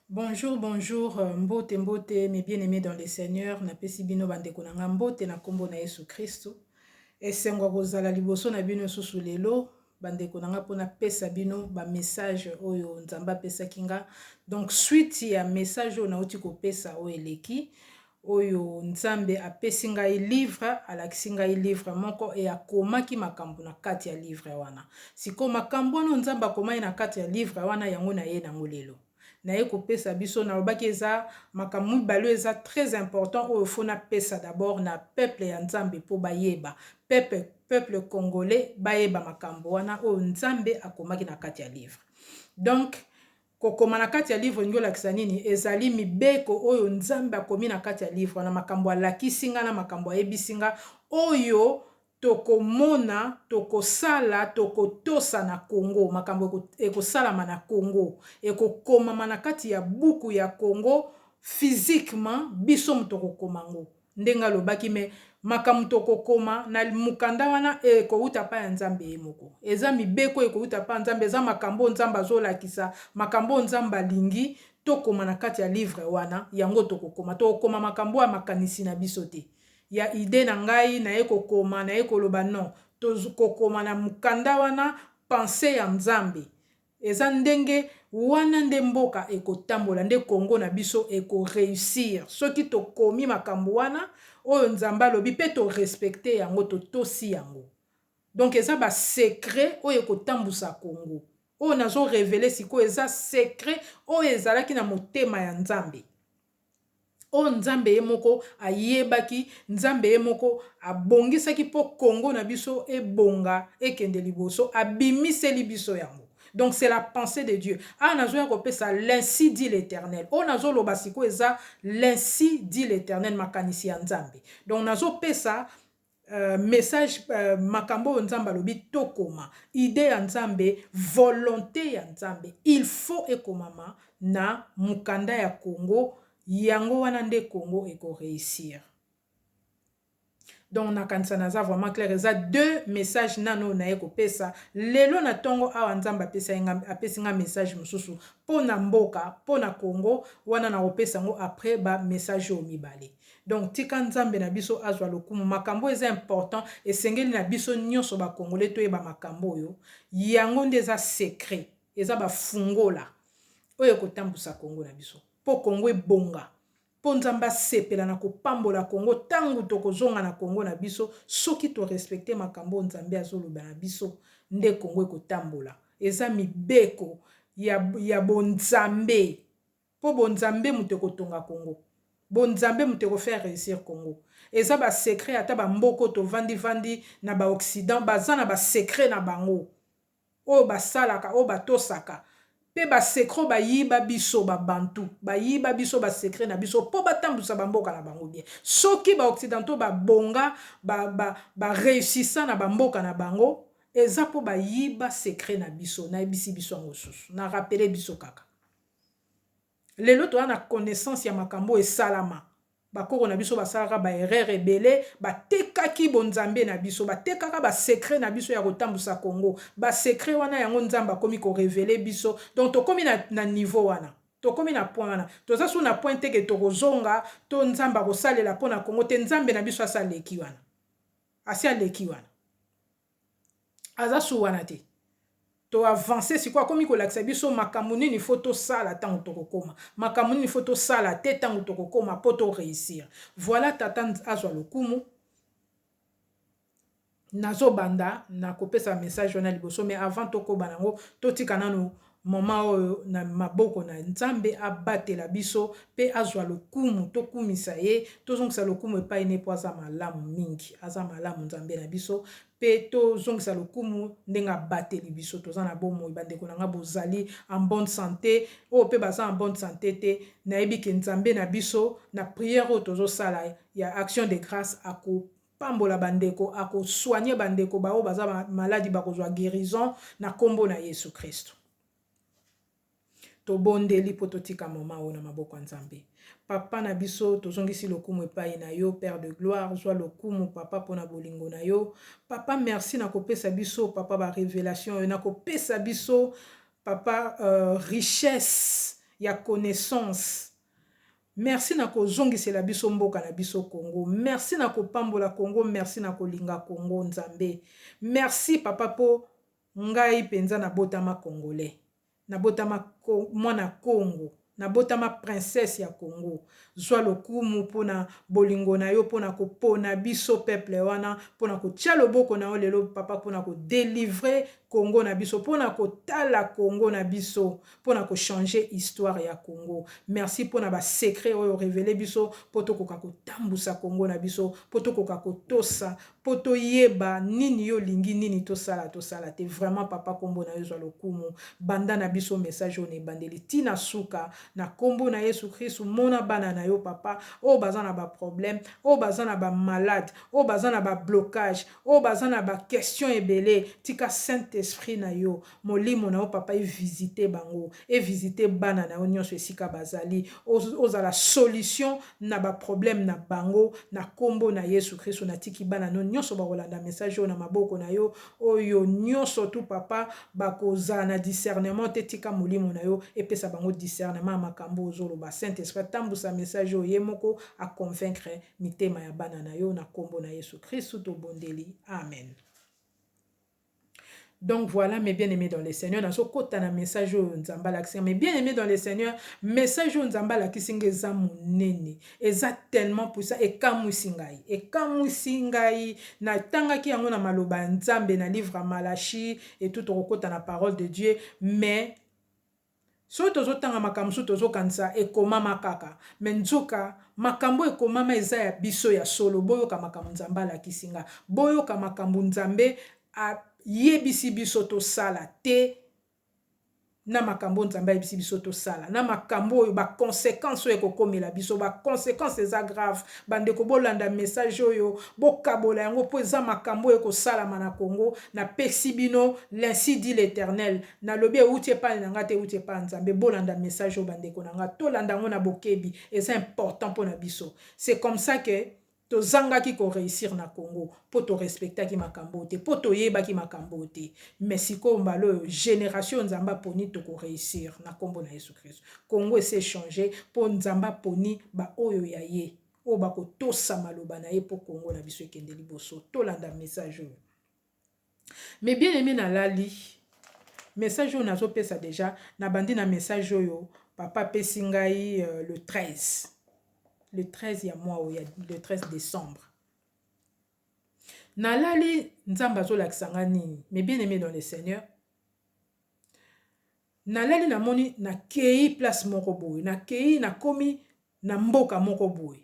Bonjour, bonjour, euh, mbote, mbote, mes bien-aimés dans le Seigneur, na pesi bino bandeko na nga mbote na kombo na Yesu Kristo. Esengo ya kozala liboso na bino susu lelo, bandeko na nga pona pesa bino ba message oyo Nzambe apesaki nga. Donc suite ya message oyo nauti kopesa oyo eleki, oyo nzambe apesi ngai livre alakisi ngai livre moko e akomaki makambo na kati ya livre wana sikoyo makambo wana nzambe akomaki na kati ya livre wana yango na ye nango lelo naye kopesa biso nalobaki eza makambo mibale eza très important oyo fo napesa d'abord na peuple ya nzambe mpo bayeba peuple peuple congolais bayeba makambo wana oyo nzambe akomaki na kati ya livre donc Kokoma na kati ya livre elingi olakisa nini? Ezali mibeko oyo Nzambe akomi na kati ya livre wana, makambo alakisi nga na makambo ayebisi nga, oyo tokomona, tokosala, tokotosa na Congo, makambo ekosalama na Congo, ekokomama na kati ya buku ya Congo, physiquement, biso moto tokokoma yango. Ndenge alobaki mais makambo tokokoma na mokanda wana ekowuta epai ya Nzambe ye moko. Eza mibeko oyo ekowuta epai ya Nzambe, eza makambo oyo Nzambe azolakisa, makambo oyo Nzambe alingi tokoma na kati ya livre wana, yango tokokoma. Tokokoma makambo oyo ya makanisi na biso te, ya idee na ngai, naye kokoma, naye koloba, non! Tokokoma na mokanda wana, pensee ya Nzambe. Eza ndenge Wana nde mboka ekotambola nde Congo na biso eko reussir soki tokomi makambu Wana oyo nzambe alobi pe to respecter yango totosi yango donc eza ba secret oyo ekotambusa Congo oyo nazo reveler sikoyo eza secret oyo ezalaki na motema ya nzambe. oyo nzambe ye moko ayebaki nzambe ye moko abongisaki po Congo na biso ebonga ekende liboso abimiseli biso yango donc c'est la pensee de Dieu awa nazoya kopesa l'ainsi dit l'eternel oyo nazoloba sikoyo eza l'ainsi dit l'eternel makanisi ya nzambe donc nazopesa Message makambo oyo nzambe alobi tokoma idee ya nzambe volonte ya nzambe il faut ekomama na mukanda ya congo yango wana nde congo eko reussir donc nakanisa naza vraiment claire eza deux message nanu oyo naye kopesa lelo na tongo awa nzambe apesa nga apesi nga message mosusu pona mboka pona congo wana nakopesa yango après ba message oyo mibale Donc tika nzambe na biso azwa lokumu makambo oyo eza important esengeli na biso nionso ba congolais toyeba makambo oyo yango nde eza secret eza ba fungola oyo ekotambusa congo na biso po congo ebonga po nzambe asepela na kopambola congo tango tokozonga na congo na biso soki to respecte makambo oyo nzambe azoloba na biso nde congo ekotambola eza mibeko ya, ya bonzambe Po bo nzambe moto eko tonga Congo. Bo nzambe moto eko faire reussir Congo. Eza ba secret ata ba mbok'oyo to vandi vandi na ba occident baza na ba secret na bango oyo ba salaka oyo ba tosaka pe ba secret oyo ba yiba biso ba bantu ba yiba biso ba secret na biso po ba tambusa ba mboka na bango bien. Soki ba occidentaux ba bonga ba ba ba reussissant na ba mboka na bango eza po ba yiba secret na biso. Na yebisi biso yango susu. Na rappeler biso kaka. Lelo toza na connaissance ya makambo oyo esalama. Ba koko na biso basalaka ba erreurs ebele, batekaki bonzambe na biso, batekaka ba secrets na biso ya kotambusa Congo. Ba secrets wana yango Nzambe akomi ko reveler biso. Donc tokomi na niveau wana. Tokomi na point wana. Toza susu na point te que tokozonga to Nzambe akosalela pona Congo te. Nzambe na biso asi aleki wana. Asi aleki wana. aza sur wana te to avance sikoyo akomi kolakisa biso makambo nini fo tosala ntango tokokoma makambo nini fo tosala te ntango tokokoma mpo to réussir voilà tata azwa lokumu nazobanda na kopesa message wana liboso mais avant tokoba nango totika nano Moment oyo na maboko na nzambe abatela biso pe azua lokumu tokumisa ye tozongisa lokumu epai ne po aza malamu mingi aza malamu nzambe na biso pe tozongisa lokumu ndenge abateli biso toza na bomoi bandeko na nga bozali en bonne sante oyo pe baza en bonne sante te nayebi ke nzambe na biso na prière oyo tozosala ya action de grace ako pambola ba ndeko ako soigner ba ndeko ba oyo baza ba maladi bako zwa guerison na kombo na yesu christu tobondeli po totika moment oyo na maboko ya nzambe papa na biso tozongisi lokumu epai na yo père de gloire zwa lokumu papa pona bolingo na yo papa merci na kopesa biso papa ba revelation oyo na kopesa biso papa uh, richesse ya connaissance Merci na ko zongisela biso mboka na biso Congo merci na ko pambola Congo merci na ko linga Congo nzambe merci papa po ngai penza na botama congolais na botama mwana Congo na botama princesse ya Congo zua lokumu pona bolingo na yo pona ko pona biso peuple wana pona ko tia loboko na yo lelo papa pona ko delivre Congo na biso pona ko tala Congo na biso pona ko changer histoire ya Congo. Merci pona ba secrets oyo o reveler biso po tokoka kotambusa Congo na biso, po tokoka kotosa, po toyeba nini yo olingi, nini tosala, tosala te. Vraiment papa kombo na yo ezwa lokumu. Banda na biso message oyo na ebandeli ti na suka. Na kombo na Yesu Kristu, mona bana na yo papa, oyo baza na ba problèmes, oyo baza na ba malades, oyo baza na ba blocages, oyo baza na ba questions ebele, tika Saint Esprit na yo, Molimo na yo papa e visiter bango, e visiter bana na yo nionso esika bazali, ozala solution na ba problèmes na bango na kombo na Yesu Kristu na tiki bana na yo nionso bakolanda message oyo na maboko na yo, oyo nionso tout papa bakozala na discernement te tika molimo na yo epesa bango discernement ya makambu oyo ozoloba, Saint Esprit atambusa message oyo ye moko a convaincre mitema ya bana na yo na kombo na Yesu Kristu tobondeli Amen. Donc voila mes bien aime dans le seigneur nazo kota na message oyo nzambe alakisi mes bien aime dans le seigneur message oyo nzambe alakisi nga eza monene eza tellement puissant ekamwisi ngai ekamwisi ngai natangaki yango na maloba ya nzambe na livre ya malachi etout tokokota na parole de dieu mais Soki tozo tanga makambo mosusu tozo kanisa ekomama kaka mais nzoka makambo oyo ekomama eza ya biso ya solo boyoka makambo Nzambe alakisi nga boyoka makambo Nzambe a yebisi biso tosala te na makambo oyo Nzambe ayebisi biso tosala na makambo oyo ba consequences oyo ekokomela biso ba consequences eza grave bandeko bolanda message oyo bokabola yango mpo eza makambo oyo ekosalama na Congo napesi bino l'ainsi dit l'eternel Nalobi ewuti epai na ngai te, ewuti epai ya Nzambe. Bolanda message oyo bandeko na ngai. Tolanda yango na bokebi. Eza important mpo na biso. C'est comme ça que tozangaki ko reussir na Congo. Mpo to respectaki makambo oyo te. Mpo toyebaki makambo oyo te. Mais sikoyo mbala oyo, generation oyo Nzambe aponi, toko reussir na kombo na Yesu Kristo. Congo esi e changer mpo Nzambe aponi ba oyo ya ye. Oyo bakotosa maloba na ye mpo Congo na biso ekende liboso. Tolanda message oyo. Mes bien aime nalali message oyo nazo pesa dejà na bandi na message oyo papa apesi ngai le 13 le 13 ya mois oyo le 13 decembre nalali nzambe azo lakisa ngai nini mes bien aime dans le seigneur nalali namoni nakei place moko boye nakei nakomi na mboka moko boye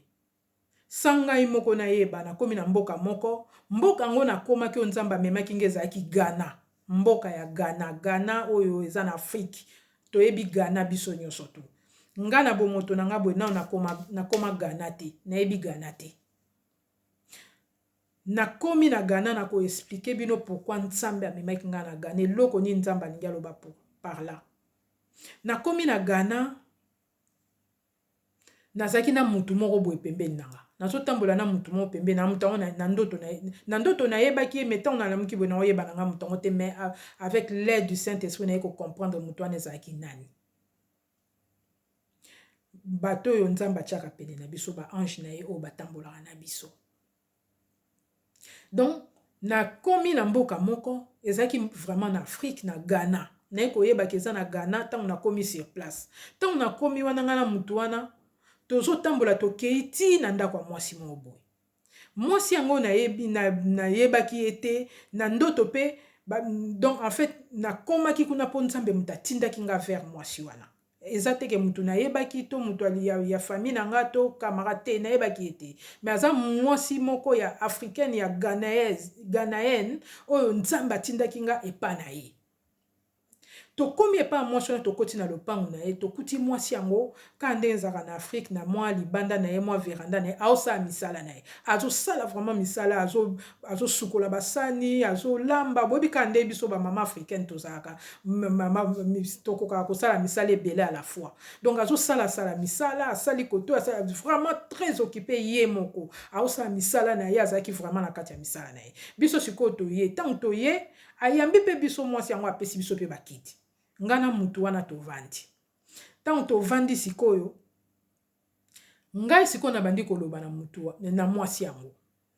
Sa ngai moko nayeba, nakomi na mboka moko, mboka yango nakomaki oyo Nzambe amemaki ngai ezalaki Ghana, mboka ya Ghana, Ghana oyo eza na Afrique, toyebi Ghana biso nionso tout. Ngai na bomoto na ngai boye nanu nakoma, nakoma Ghana te, nayebi Ghana te. Nakomi na Ghana, nako expliquer bino pourquoi Nzambe amemaki ngai na Ghana, eloko nini Nzambe alingi aloba pour, par là. Nakomi na Ghana, Nazalaki na mutu moko boye pembeni na nga. Nazo tambola na mutu moko pembeni na nga, mutu yango na ndoto na na ndoto na yebaki ye mais tango na lamuki boye nao yeba na nga mutu yango te mais avec l'aide du Saint Esprit naye ko comprendre mutu wana ezalaki nani. Bato oyo Nzambe atiaka pene na biso ba anges na ye oyo ba tambolaka na biso. Donc na komi na mboka moko ezalaki vraiment na Afrique na Ghana naye koyeba ke eza na Ghana tango na komi sur place tango na komi wana nga na mutu wana tozo tambola tokeyi ti na ndako ya mwasi moko boye mwasi yango nayebi na nayebaki ye te na ndoto pe donc en fait na komaki kuna po Nzambe mutu atindaki nga vers mwasi wana. Eza te ke mutu nayebaki to mutu ya famille na nga to camarade te nayebaki ye te mais aza muasi moko ya africaine ya ghanaise ghanaenne oyo nzambe atindaki nga epa na ye tokomi epa ya muasi wana tokoti na lopangu na ye tokuti muasi yango kaka ndenge ezalaka na afrique na mua libanda na ye mua veranda na ye azo sala misala na ye azo sala vraiment misala azo azo sukola ba sani azo lamba boyebi kaka nde biso ba maman africaine tozalaka tokokaka kosala misala ebele à la fois donc azo sala sala misala asali koto asala vraiment très occupé ye moko aosala misala na ye azalaki vraiment na kati ya misala na ye biso sikoyo toye ntango toye ayambi mpe biso mwasi yango apesi biso mpe bakiti ngai na mutu wana tovandi ntango tovandi sikoyo Ngai sikoyo nabandi koloba na moto wa, na mwasi yango.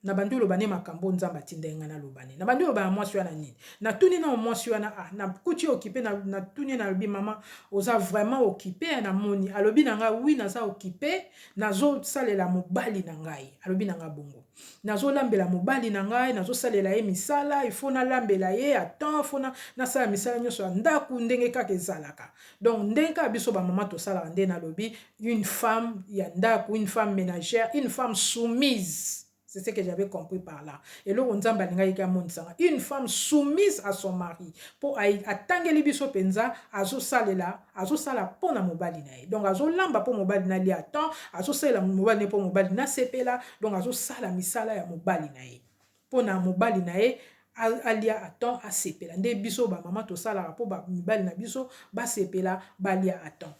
Nabandi koloba ne makambo oyo Nzambe atindaki ngai naloba ne. Nabandi koloba na mwasi wana nini? Natuni nao mwasi wana, ah, nakuti ye okipe, na, natuni ye, nalobi, mama, oza vraiment okipe, eh, namoni. Alobi na ngai, oui, naza okipe, nazosalela mobali na ngai. Alobi na ngai bongo. Nazolambela mobali na ngai, nazosalela ye misala, il faut nalambela ye, attends, faut na, nasala misala nyonso ya ndako, ndenge kaka ezalaka. Donc ndenge kaka biso ba maman tosalaka nde nalobi une femme ya ndaku, une femme menagère, une femme soumise c'est ce que j'avais compris par là eloko Nzambe alingaki ke amonisa nga une femme soumise à son mari po atangeli biso penza azosalela azosala po na mobali na ye donc azolamba po mobali na lia temps azosalela mobali na ye po mobali na sepela donc azosala misala ya mobali na ye pona mobali na ye alia à temps asepela nde biso ba maman tosalaka po ba mibali na biso basepela balia à temps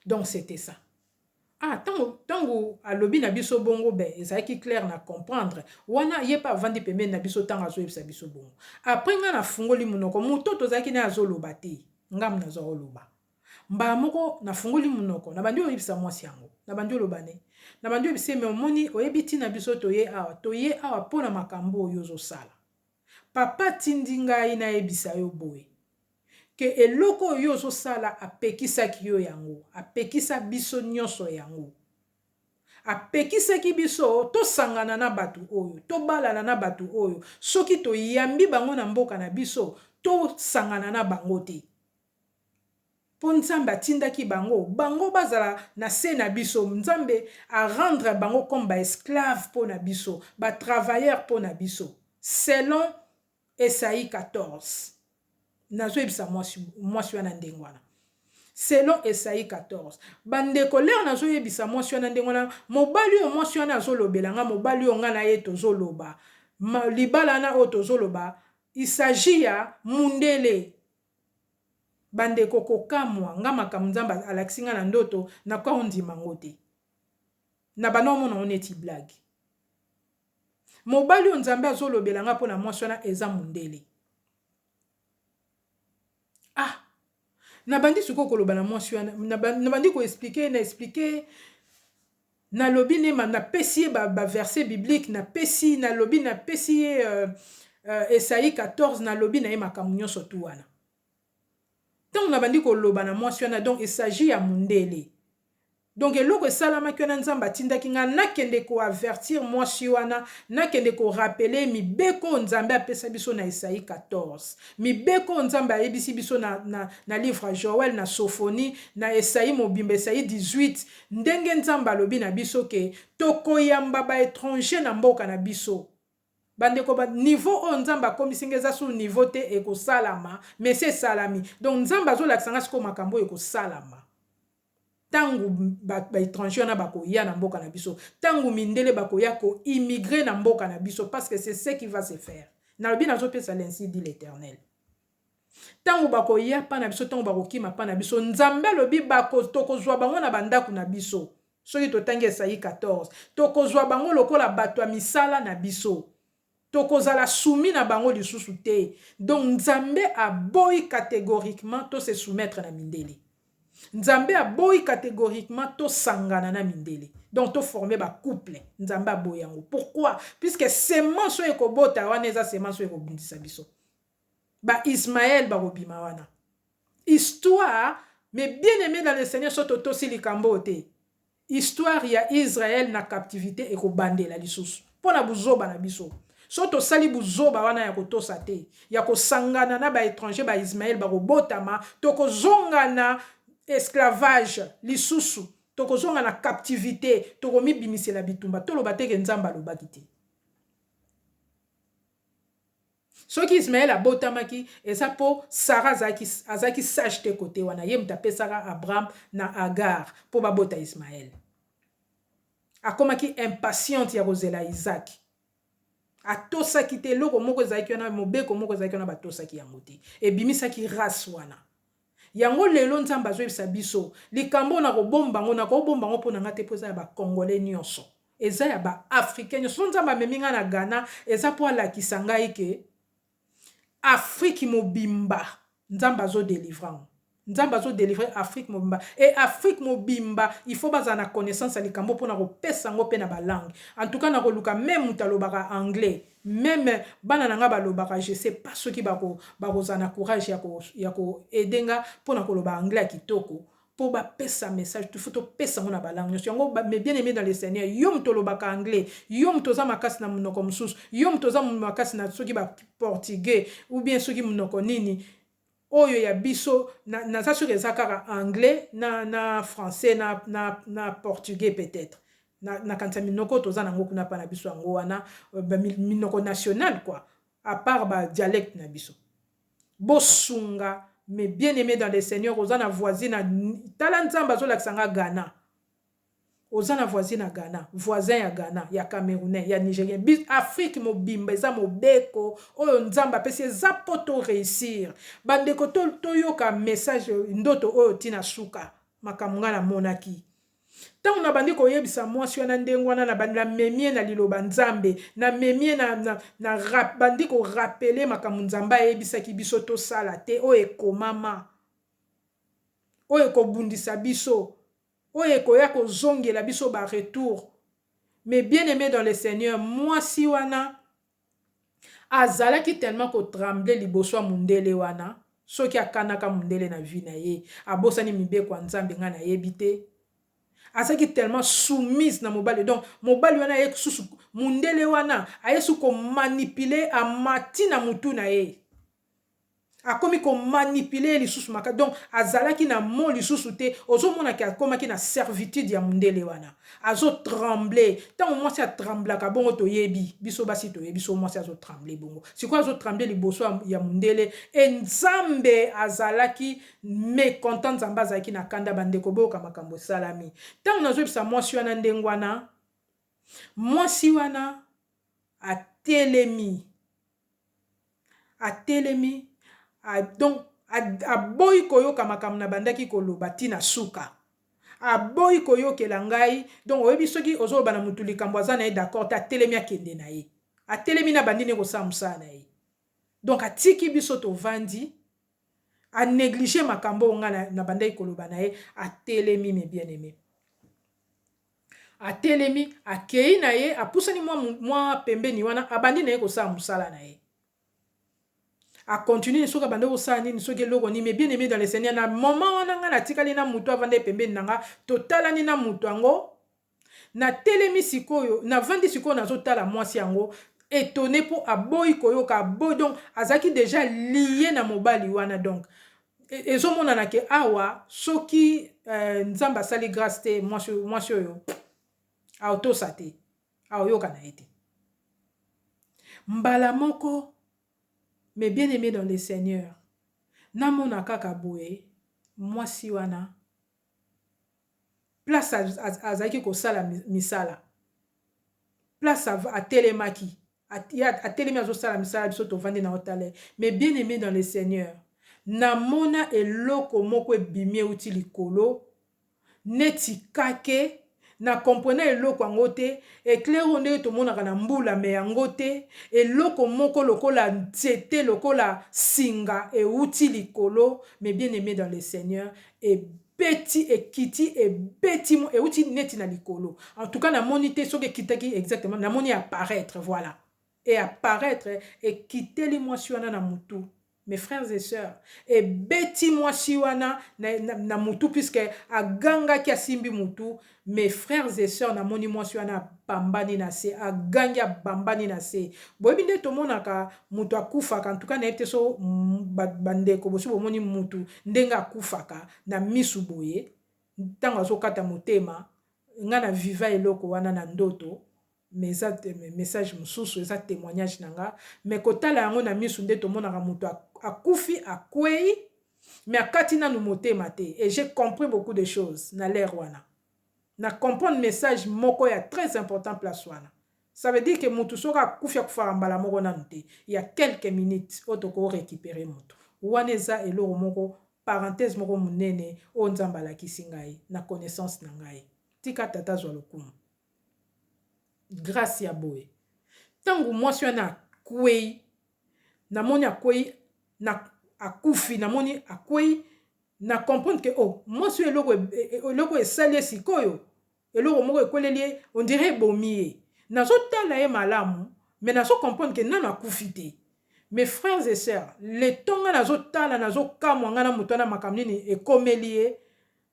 donc c'etait ça ah ntango ntango alobi na biso bongo ben ezalaki claire na comprendre wana ye mpe avandi pembeni na biso ntango azoyebisa biso bongo apres ngai nafungoli monoko moto tozalaki naye azoloba te ngambo nazwa oloba Mbala moko nafungoli munoko, nabandi oyebisa mwasi yango. Nabandi oloba ne. Nabandi oyebisa ye mais omoni, oyebi tina biso toye awa? Toye awa po na makambu oyo ozosala. Papa atindi ngai nayebisa yo boye, que eloko oyo yo ozosala apekisaki yo yango, apekisa biso nionso yango. Apekisaki biso tosangana na batu oyo, tobalana na batu oyo, soki toyambi bango na mboka na biso, tosangana na bango te. Po nzambe atindaki bango bango bazala na se na biso nzambe a rendre bango comme ba esclaves po na biso ba travailleurs po na biso selon esaie 14 nazo yebisa mwasi mwasi wana ndenge wana selon esaie 14 ba ndeko lere nazo yebisa mwasi wana ndenge wana mobali oyo mwasi wana azo lobela nga mobali oyo nga na ye tozo loba libala na oyo tozo loba il s'agit ya mundele Ba ndeko kokamwa nga makambo nzambe alakisi nga na ndoto na ko ndima ngo te na banda omona ngo neti blague mobali oyo nzambe azo lobela nga pona mwasi wana eza mundele ah na bandi sikoyo koloba na mwasi wana na bandi ko explique na explique Na lobi ne ma, na pesi ye ba, ba verset biblique, na pesi, na lobi, na pesi ye euh, euh, Esaie 14, na lobi na ye makambo nionso tout wana. Tango na bandi ko loba na mwasi wana, donc il s'agit ya mundele. Donc eloko esalamaki wana Nzambe atindaki nga na kende ko avertir mwasi wana, na kende ko rappeler ye mibeko oyo Nzambe apesa biso na Esaie 14. Mibeko oyo Nzambe ayebisi biso na, na, na livre ya Joël, na Sophonie, na Esaie mobimba, Esaie 18, Ndenge Nzambe alobi na biso que tokoyamba ba etrangers na mboka na biso. Bandeko ba niveau oyo Nzambe akomisi nga eza sur niveau te ekosalama mais esi esalami. Donc Nzambe azolakisa nga sikoyo makambo oyo ekosalama. Tango ba ba etrangers wana bakoya na mboka na biso, tango mindele bakoya ko immigrer na mboka na biso parce que c'est ce qui va se faire. Nalobi nazopesa l'Ainsi dit l'Eternel. Tango bakoya epa na biso, tango bakokima epa na biso, Nzambe alobi, bako, tokozua bango na bandako na biso. Soki totangi Esayi 14, tokozua bango lokola bato ya misala na biso. Tokozala soumis na bango lisusu te. Donc, Nzambe aboyi categoriquement to se soumettre na mindele. Nzambe aboyi categoriquement tosangana na mindele. Donc, to former ba couple. Nzambe aboyi yango. Pourquoi? Puisque semence oyo ekobota wana eza semence oyo ekobundisa biso. ba Ismael bakobima wana histoire mais bien aime dans le seigneur soki totosi likambo oyo te histoire ya Israel na captivite ekobandela lisusu mpo na buzoba na biso soki tosali buzoba wana ya kotosa te ya kosangana na ba étranger ba Ismael bakobotama tokozonga na esclavage lisusu tokozonga na captivite tokomibimisela bitumba toloba te ke Nzambe alobaki te Soki Ismael abotamaki eza po Sarah azalaki azalaki sage te cote wana ye mutu apesaka Abraham na Agar po babota Ismael. Akomaki impatiente ya kozela Isaac. Atosaki te eloko moko ezalaki wana mobeko moko ezalaki wana batosaki yango te ebimisaki race wana. Yango lelo nzambe azoyebisa biso likambo oyo nako bomba ngo nako bomba ngo pona nga te po eza yaba congolais nionso eza yaba africain nionso soki nzambe amemi nga na Ghana eza po alakisa ngai ke afrique mobimba nzambe azo delivra ngo nzambe azo delivre afrique mobimba et afrique mobimba il faut bazala na connaissance ya likambo oyo pona kopesa ngo pe naba langue en tout cas nako luka meme mutu alobaka anglais Meme bana na nga ba lobaka je sais pas soki ba ko ba ko zala na courage ya ko ya ko aider nga pona ko loba anglais ya kitoko po ba pesa message il faut to pesa ngo na ba langues nionso yango mes bien aimes dans le seigneur yo mutu olobaka anglais yo mutu oza makasi na munoko mususu yo mutu oza makasi na soki ba portugais ou bien soki munoko nini Oyo ya biso na naza sur eza kaka anglais na na français na na na portugais peut etre na nakanisa minoko toza nango kuna pa na biso yango wana ba minoko nationale quoi a part ba dialecte na biso bosunga mes bien aime dans le seigneur oza na voisine tala nzambe azolakisa nga Ghana. Oza na voisine ya Ghana, voisin ya Ghana, ya Camerounais, ya Nigerien, bi Afrique mobimba eza mobeko oyo Nzambe apesi eza po to reussir ba ndeko to toyoka message ndoto oyo ti na suka makambo nga na monaki Tango na bandi koyebisa mwasi wana ndenge wana na bandi na memi ye na liloba Nzambe na memi ye na, na, na rap, bandi ko rappeler makambo Nzambe ayebisaki biso tosala te oyo ekomama oyo ekobundisa biso oyo ekoya kozongela biso ba retour mais bien aime dans le seigneur mwasi wana azalaki tellement ko tremble liboso ya mundele wana soki akanaka mundele na vie na ye abosani mibeko ya nzambe ngai nayebi te azalaki tellement soumise na mobali donc mobali wana aye susu mundele wana aye susu ko manipuler amati na mutu na ye Akomi ko manipuler ye lisusu makasi donc azalaki na mot lisusu te ozo mona ke akomaki na servitude ya mundele wana azo trembler tango mwasi a tremblaka bongo toyebi biso basi toyebi soki mwasi azo trembler bongo sikoyo azo trembler liboso ya mundele et nzambe azalaki mecontent nzambe azalaki na kanda ba ndeko boyoka makambo esalami tango nazo yebisa mwasi wana ndenge wana Mwasi wana atelemi, atelemi, a donc a aboyi koyoka makambo nabandaki koloba ti na suka. Aboyi koyokela ngai, donc oyebi soki ozoloba na mutu likambo aza na ye d'accord te, atelemi akende na ye. Atelemi na bandi nde kosala mosala na ye. Donc atiki biso tovandi, a negliger makambo oyo ngai nabandaki koloba na ye, atelemi mes bien-aimes. Atelemi, akei na ye, apusani mwa, mwa pembeni wana, abandi na ye kosala mosala na ye. A continuer, soki abandaki kosala nini, soki eloko nini, mais bien-aime dans le Seigneur, na moment wana ngai natikali na moto avandaki pembeni na ngai, totalani na moto yango, natelemi sikoyo, navandi sikoyo nazotala mwasi yango, etonne mpo aboyi koyoka, aboyi, donc azalaki dejà lie na mobali wana, donc Ezomonana ke awa soki nzambe asali grace te mwasi oyo aotosa te aoyoka na ye te mbala moko mais bien aime dans le seigneur namona kaka boye mwasi wana place azalaki kosala misala place atelemaki atelemi azosala misala biso tovandi na otale mais bien aimé dans le seigneur namona eloko moko ebimi euti likolo neti kake Na comprena eloko yango te, eclair oyo ndenge tomonaka na mbula mais yango te, eloko moko lokola nzete lokola singa ewuti likolo mes bien aimes dans le seigneur ebeti ekiti ebeti ewuti neti na likolo en tout cas na moni te soki ekitaki exactement na moni apparaitre voila. e apparaitre ekiteli mwasi wana na mutu mes frères et sœurs ebeti mwasi wana na mutu puisque agangaki asimbi mutu mes frères et sœurs namoni mwasi wana abambani na se agangi abambani na se boyebi nde tomonaka mutu akufaka en tout cas nayebi te so ba ndeko bosi bomoni mutu ndenge akufaka na misu boye tango azokata motema nga na viva eloko wana na ndoto mais eza message mususu eza temoignage na nga mais kotala yango na misu nde tomonaka mutu akufi akueyi mais akati nanu motema te et j'ai compris beaucoup de choses na l'heure wana na comprendre message moko ya très important place wana ça veut dire que mutu soki akufi akufaka mbala moko nanu te ya quelques minutes oyo toko recuperer mutu wana eza eloko moko parenthèse moko munene oyo nzambe alakisi ngai na connaissance na ngai tika tata azua lokumu. grace ya boye tangu mwasi wana akueyi na moni akueyi na akufi na moni akueyi na comprendre ke oh mwasi oyo eloko eloko esali ye sikoyo eloko moko ekweleli ye on dirait ebomi ye nazo tala ye malamu mais nazo comprendre ke nanu akufi te mes frères et sœurs le temps nga nazo tala nazo kamwa nga na moto wana makambo nini ekomeli ye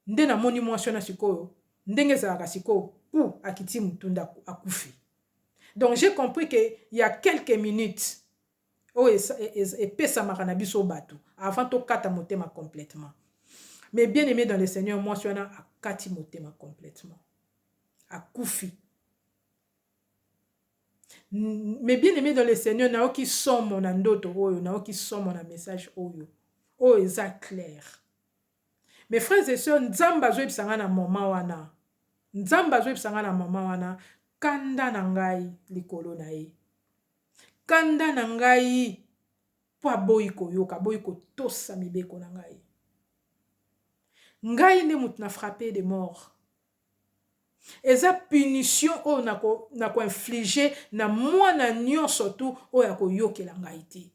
nde na moni mwasi wana sikoyo ndenge ezalaka sikoyo pou akiti mutu nde akufi donc j'ai compris que ya quelques minutes oyo epesamaka na biso batu avant tokata motema complètement mais bien aimé dans le seigneur mwasi wana akati motema complètement akufi mais bien aimé dans le seigneur nayoki somo na ndoto oyo nayoki somo na message oyo oyo eza claire Mes frères et sœurs nzambe azo yebisa ngai na moment wana nzambe azo yebisa ngai na moment wana kanda na ngai likolo na ye kanda na ngai mpo aboyi koyoka aboyi kotosa mibeko na ngai ngai nde moto na frappe de mort eza punition oyo nakoinflige na mwana nyonso tu oyo akoyokela ngai te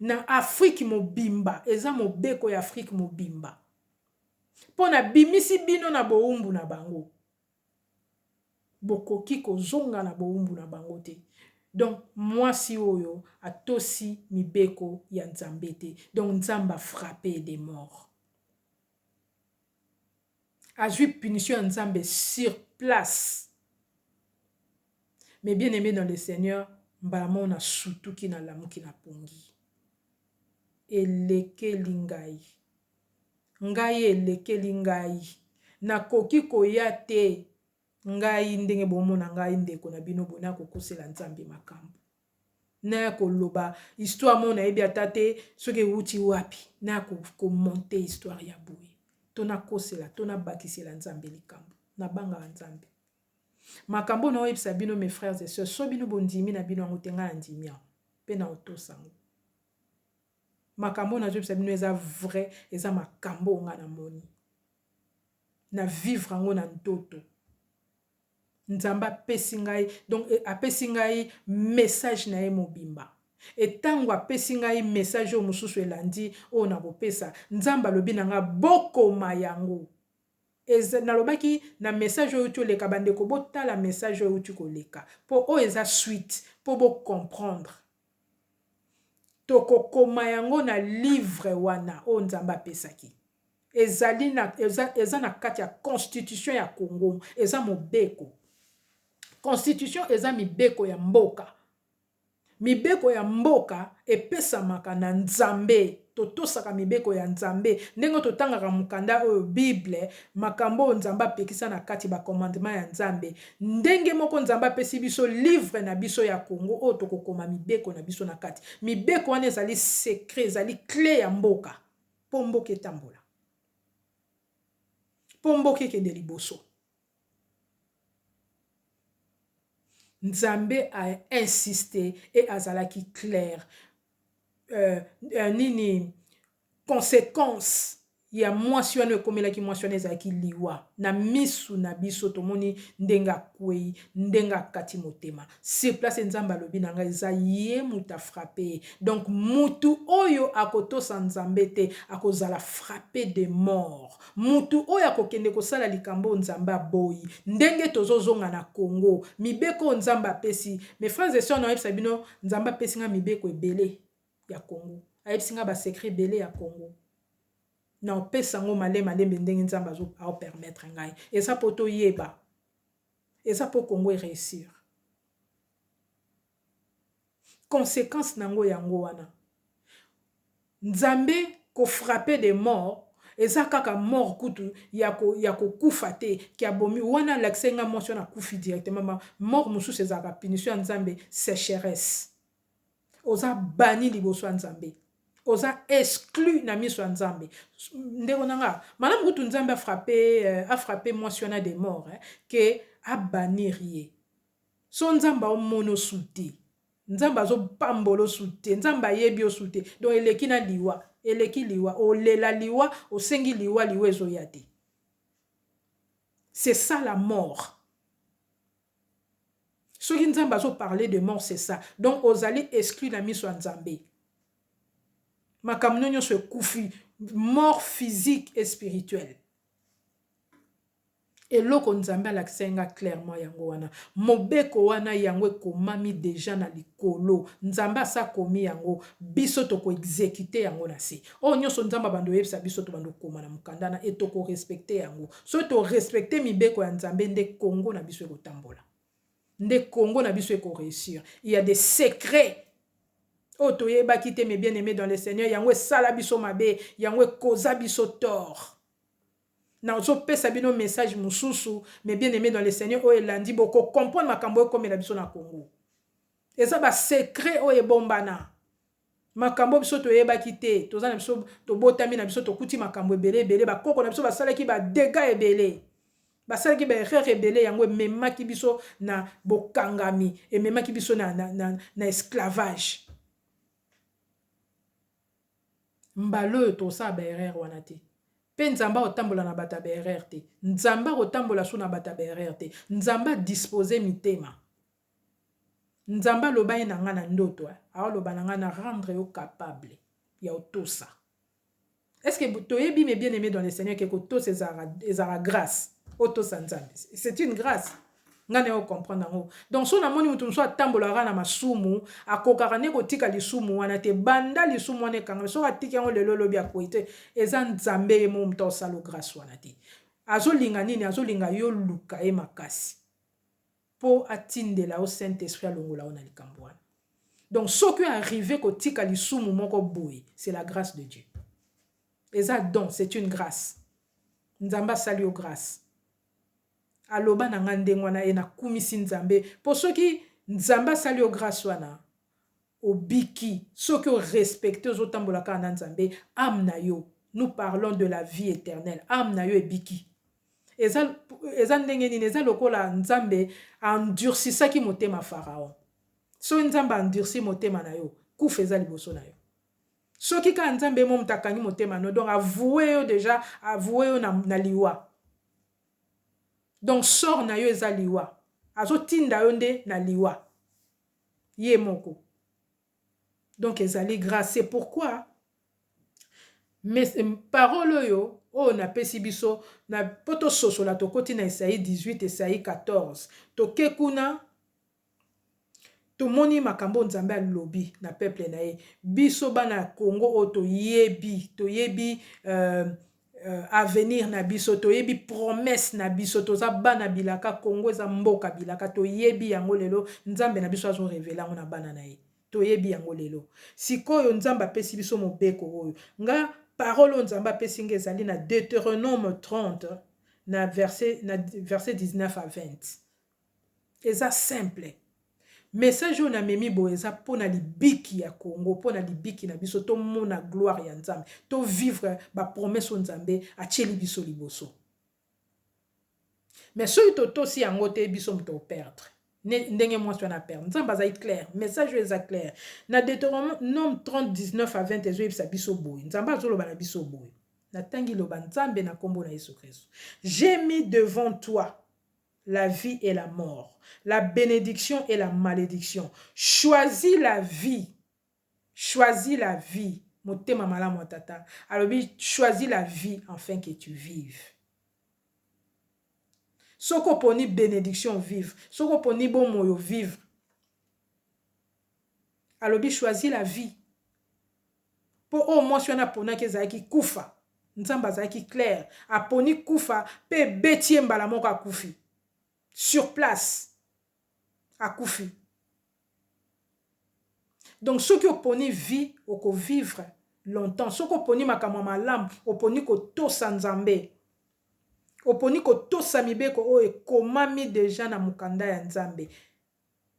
Na Afrique mobimba, eza mobeko ya Afrique mobimba. Po na bimisi bino na bowumbu na bango. Bokoki kozonga na bowumbu na bango te. Donc, muasi oyo atosi mibeko ya Nzambe te. Donc, Nzambe a frapper de mort. azui punition ya nzambe sur place mais bien aime dans le seigneur mbala moko na sutuki na lamuki na pongi elekeli ngai ngai elekeli ngai nakoki koya te ngai ndenge bomona ngai ndeko na bino boye nakokusela nzambe makambo naya ko loba histoire moko nayebi ata te soki ewuti wapi naya ko monter histoire ya boye to na kosela to na bakisela nzambe likambo na bangaka nzambe makambo na oyebisa bino mes frères et sœurs so bino bondimi na bino yango te ngai na ndimi yango mpe na otosa yango makambo nazobisa bino eza vrai eza makambo nga namoni na vivre yango na ntoto Nzambe apesi ngai donc apesi ngai message na ye mobimba et tango apesi ngai message oyo mosusu elandi oyo nakopesa Nzambe alobi na nga bokoma yango eza nalobaki na message oyo euti oleka bandeko botala message oyo euti koleka po oyo eza suite po bo comprendre. Tokokoma yango na livre wana oyo Nzambe apesaki. Ezali na, eza, eza na kati ya constitution ya Congo. Eza mobeko. Constitution eza mibeko ya mboka. Mibeko ya mboka epesamaka na Nzambe. Totosaka mibeko ya Nzambe ndenge oyo totangaka mokanda oyo, Bible, makambo oyo Nzambe apekisa na kati, ba commandements ya Nzambe. Ndenge moko Nzambe apesi biso livre na biso ya Congo oyo tokokoma mibeko na biso na kati. Mibeko wana ezali secret, ezali cle ya mboka po mboka etambola, po mboka ekende liboso. Nzambe a insiste et azalaki claire euh, nini consequence ya mwasi wana ekomelaki mwasi wana ezalaki liwa na misu na biso tomoni ndenge akwei ndenge akati motema sur place nzambe alobi na nga eza ye mutu a frappe ye donc mutu oyo ako tosa nzambe te ako zala frappe de mort mutu oyo ako kende ko sala likambo oyo nzambe aboyi ndenge tozo zonga na congo mibeko oyo nzambe apesi mes frères et soeurs nao yebisa bino nzambe apesi nga mibeko ebele ya congo ayebisi nga ba secret ebele ya congo nao pesa ngo male malembe ndenge nzambe azo ao permettre ngai eza po to yeba Eza po Congo e reussir. Consequence na yango yango wana. Nzambe ko frapper des morts eza kaka mort kutu yako yako kufa te que abomi wana alakisaki nga mwasi wana akufi directement. Ba morts mosusu ezalaka punition ya Nzambe secheresse. Oza banni liboso ya Nzambe. Oza exclu na miso ya Nzambe. Ndeko na nga, malamu kutu Nzambe a frapper, a frapper mwasi wana de mort eh, que a bannir ye. Son Nzambe ao mona o su te. Nzambe azo pambola o su te. Nzambe ayebi o su te. Donc eleki na liwa. Eleki liwa. O lela liwa, o sengi liwa, liwa ezo ya te. C'est ça la mort. Soki nzambe azo parle de mort c'est ça donc ozali exclu na miso ya nzambe makambo no nionso ekufi mort physique et spirituel eloko nzambe alakisaki nga clairement yango wana mobeko wana yango ekomami deja na likolo nzambe asa komi yango biso toko exekite yango na se oyo nyonso nzambe abando oyebisa biso tobando koma na mokanda na etokorespecte yango Soki to respecter mibeko ya Nzambe nde Congo na biso ekotambola. Nde Congo na biso eko reussir. Il y a des secrets oyo toyebaki te mes bien-aimés dans le Seigneur yango esala biso mabe, yango ekoza biso tort. nazopesa bino message mosusu mais bien aimé dans le seigneur oyo elandi bokocomprendre makambo oyo ekomela biso na congo eza basecret oyo ebombana Makambo oyo biso toyebaki te, toza na biso tobotami na biso tokuti makambo ebele ebele, ba koko na biso basalaki ba degats ebele, basalaki ba erreurs ebele yango ememaki biso na bokangami, ememaki biso na na esclavage. Mbala oyo tokosala ba erreurs wana te. Mpe Nzambe akotambola na bato ya ba erreurs te. Nzambe akotambola su na bato ya ba erreurs te. Nzambe a disposer mitema. Nzambe aloba ye na nga na ndoto eh aoloba na nga na rendre yo capable ya otosa est-ce que toyebi mes bien-aimés dans le Seigneur que kotosa ezalaka ezalaka grâce otosa Nzambe c'est une grâce nga na yo comprendre yango donc so namoni moto mosusu atambolaka na masumu akokaka nde kotika lisumu wana te banda lisumu wana ekangami soki atiki yango lelo lobi akwei te eza Nzambe ye moko moto asalo grâce wana te azolinga nini azolinga yo luka ye makasi po atindela yo saint esprit alongola yo na likambo wana donc soki o arrive kotika lisumu moko boye c'est la grace de Dieu eza don c'est une grace nzambe asali yo grace aloba na nga ndenge wana e nakumisi nzambe po soki nzambe asali yo grace wana obiki soki o respecter ozo tambola kaka na nzambe ame na yo nous parlons de la vie eternelle ame na yo ebiki eza eza ndenge nini eza lokola nzambe a endursisaki motema pharaon soki nzambe a endursi motema na yo kufa eza liboso na yo soki kaka nzambe mo moto akangi motema no donc avoue yo deja avoue yo na, na liwa donc sort na yo eza liwa azotinda yo nde na liwa ye moko donc ezali grace c'est pourquoi parole oyo oyo napesi biso na po tososola tokoti na esai 18 esai 14 toke kuna tomoni makambo nzambe alobi na peuple na ye biso bana ya congo oyo toyebi toyebi euh, euh, avenir na biso toyebi promesse na biso toza bana bilaka congo eza mboka bilaka toyebi yango lelo nzambe na biso azo revele yango na bana na ye toyebi yango lelo sikoyo nzambe apesi biso mobeko oyo nga parole oyo nzambe apesi nga ezali na deuteronome 30 na verset, na verset 19 à 20 Eza simple. Message oyo na memi boye eza pona libiki ya Congo, pona libiki na biso to mona gloire ya Nzambe, to vivre ba promesse oyo Nzambe a tieli biso liboso. Mais soki to tosi yango te biso moto to perdre. Ndenge mwasi wana a perdre. Nzambe azali claire. Message oyo eza claire. Na Deuteronome 30, 19 à 20 ezo yebisa biso boye. Nzambe azo loba na biso boye. Na tangi loba Nzambe na kombo na Yesu Christ. J'ai mis devant toi la vie et la mort, la benediction et la malediction, choisis la vie, choisis la vie, motema malamu ya tata alobi choisis la vie enfin que tu vives. Soki oponi benediction ovive, soki oponi bomoi ovivre, alobi choisis la vie. Mpo oyo mwasi wana aponaki ezalaki kufa. Nzambe azalaki claire, aponi kufa mpe ebeti ye mbala moko akufi. Sur place. Akufi. Donc soki oponi vie, oko vivre longtemps. Soki oponi makambo ya malamu, oponi kotosa Nzambe. Oponi kotosa mibeko oyo ekomami dejà na mokanda ya Nzambe.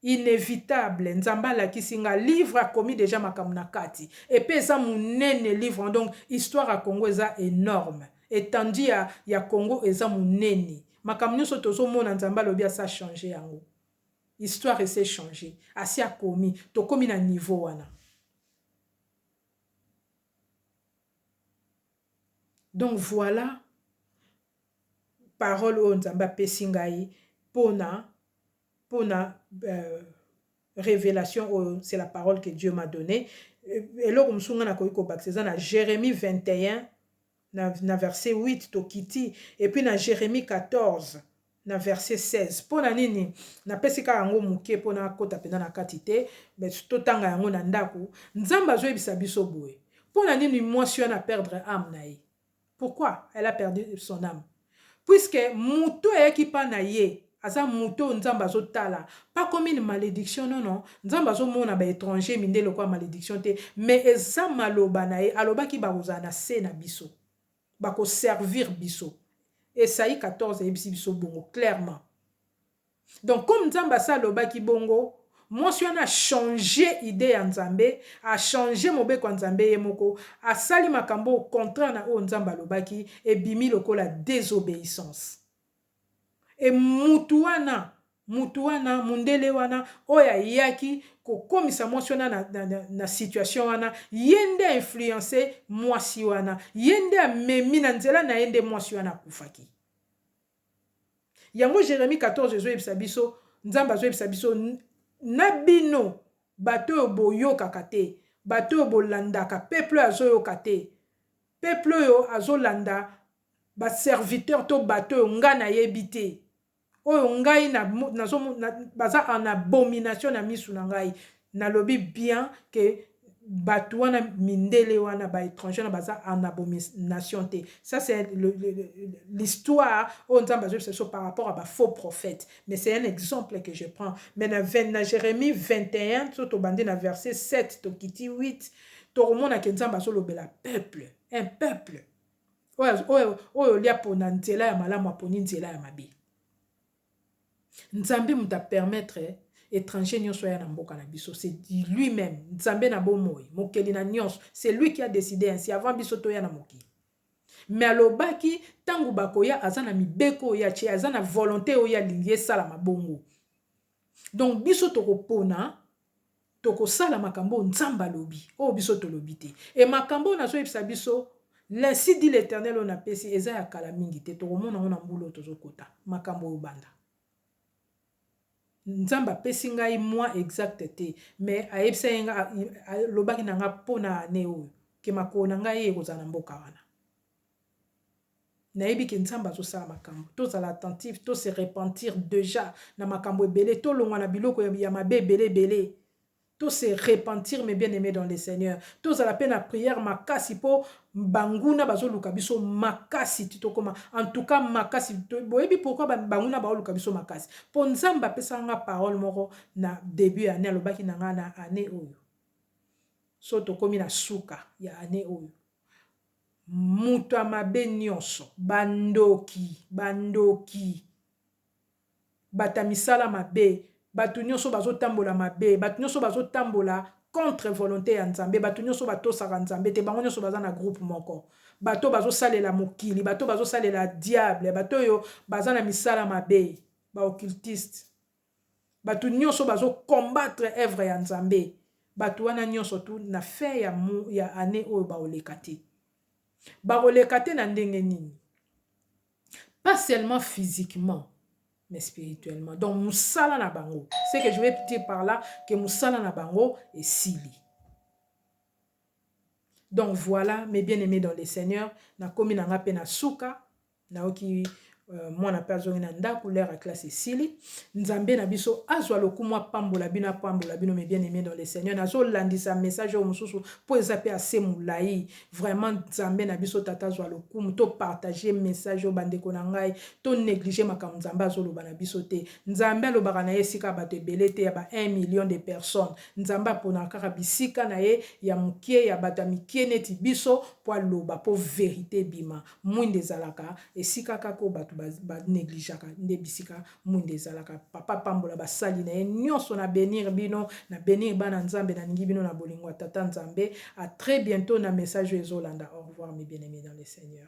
Inevitable nzambe alakisi nga livre akomi dejà makambo na kati epe eza munene livre wana donc histoire ya congo eza enorme etendue ya ya congo eza munene makambo nioso tozo mona nzambe alobi asi a change yango histoire esi e change asi akomi tokomi na niveau wana donc voila parole oyo nzambe apesi ngai pona pona revelation oyo c'est la parole que Dieu m'a donne eloko mosusu nga nakoki kobakisa eza na Jeremie 21 na verset 8 tokiti et puis na Jeremie 14 na verset 16 pona nini napesi kaka yango moke pona akota pena na kati te mais totanga yango na ndako nzambe azoyebisa biso boye pona nini mwasi wana perdre ame na ye Pourquoi elle a perdu son ame? Puisque mutu oyo ayaki epa naye aza mutu oyo Nzambe azo tala pas comme une malediction non non Nzambe azo mona ba etrangers mindele lokola malediction te mais eza maloba naye alobaki bakozala na se na biso bako servir biso Esaie 14 eyebisi biso bongo clairement. Donc comme Nzambe asi alobaki bongo, mwasi wana a changer idee ya Nzambe, a changer mobeko ya Nzambe ye moko, asali makambo oyo contraire na oyo Nzambe alobaki, ebimi lokola desobeissance. Et mutu wana, mutu wana, mundele wana oyo ayaki kokomisa mwasi wana na, na, na, na situation wana, ye nde a influencer mwasi wana, ye nde amemi, na nzela na ye nde mwasi wana akufaki. Yango Jeremie 14 ezo yebisa biso nzambe azo yebisa biso na bino bato oyo boyokaka te bato oyo bolandaka peuple oyo azoyoka te peuple oyo azolanda ba serviteur to bato oyo nga na yebi te oyo ngai nazo baza en abomination na misu na ngai Nalobi bien que batu wana mindele wana ba etrangers wana baza en abomination te ça c'est l'histoire oyo nzambe azoyebisa biso par rapport ya ba faux prophètes mais c'est un exemple que je prends mais na na jeremie 21 soki tobandi na verset 7 tokiti 8 tokomona ke nzambe azolobela peuple un peuple oyo oyo oyo olia pona nzela ya malamu aponi nzela ya mabe Nzambe moto a permettre etranger nionso aya na mboka na biso c'est lui meme Nzambe na bomoi mokeli na nionso c'est lui qui a decide ainsi avant biso toya na mokili mais alobaki tango bakoya aza na mibeko oyo atie aza na volonte oyo alingi esalama bongo donc biso tokopona Tokosala makambo oyo Nzambe alobi, oyo biso tolobi te. Et makambo oyo nazoyebisa biso, l'Ainsi dit l'Eternel oyo napesi, eza ya kala mingi te, tokomona yango na mbula oyo tozokota. Makambo oyo banda. Nzambe apesi ngai mois exact te, mais ayebisaki nga, alobaki na nga po na annee oyo, que makolo na ngai ekozala na mboka wana. Nayebi que Nzambe azo sala makambu. Tozala attentif, to se repentir dejà na makambu ebele, tolongwa na biloko ya mabe ebele ebele. To se repentir mes bien-aimes dans le Seigneur. Tozala pe na prière makasi po banguna bazo luka biso makasi ti tokoma en tout cas makasi. Boyebi pourquoi banguna bao luka biso makasi? Po Nzambe apesaka nga parole moko na debut ya annee, alobaki na nga na annee oyo, soki tokomi na suka ya annee oyo, Moto ya mabe nionso. Ba ndoki. Ba ndoki. Bato ya misala mabe. Bato nionso bazo tambola mabe. Bato nionso bazo tambola contre volonte ya Nzambe. Bato nionso ba tosaka Nzambe te. Bango nionso baza na groupe moko. Bato oyo bazo salela mokili. Bato oyo bazo salela diable. Bato oyo baza na misala mabe. Ba occultistes. batu nionso bazo combattre œuvre ya Nzambe batu wana nionso tout na fin ya ya annee oyo bako leka te bako leka te na ndenge nini pas seulement physiquement mais spirituellement. Donc, musala na bango. Ce que je vais dire par là, que musala na bango est sili. Donc voilà, mes bien-aimés dans le Seigneur, na komi na nga pe na suka, nayoki mwana mpe azongi na ndako lere ya classe esili nzambe na biso azwa lokumu apambola bino apambola bino mes bien aimé dans le seigneur nazolandisa message oyo mosusu mpo eza mpe ase molai vraiment nzambe na biso tata azwa lokumu to partage message oyo bandeko na ngai to néglige makambo nzambe azoloba na biso te nzambe alobaka na ye esika bato ebele te ya ba 1 million de personnes nzambe aponaka kaka bisika na ye ya mokie ya bato ya mikie neti biso mpo aloba mpo verite ebima Mwinda ezalaka esika kaka oyo batu ba negligeaka nde bisika mwinda ezalaka papa apambola basali naye nionso na benir bino na benir bana nzambe na lingi bino na bolingo ya tata nzambe a tres bientot na message oyo ezolanda au revoir mes bien aime dans le seigneur.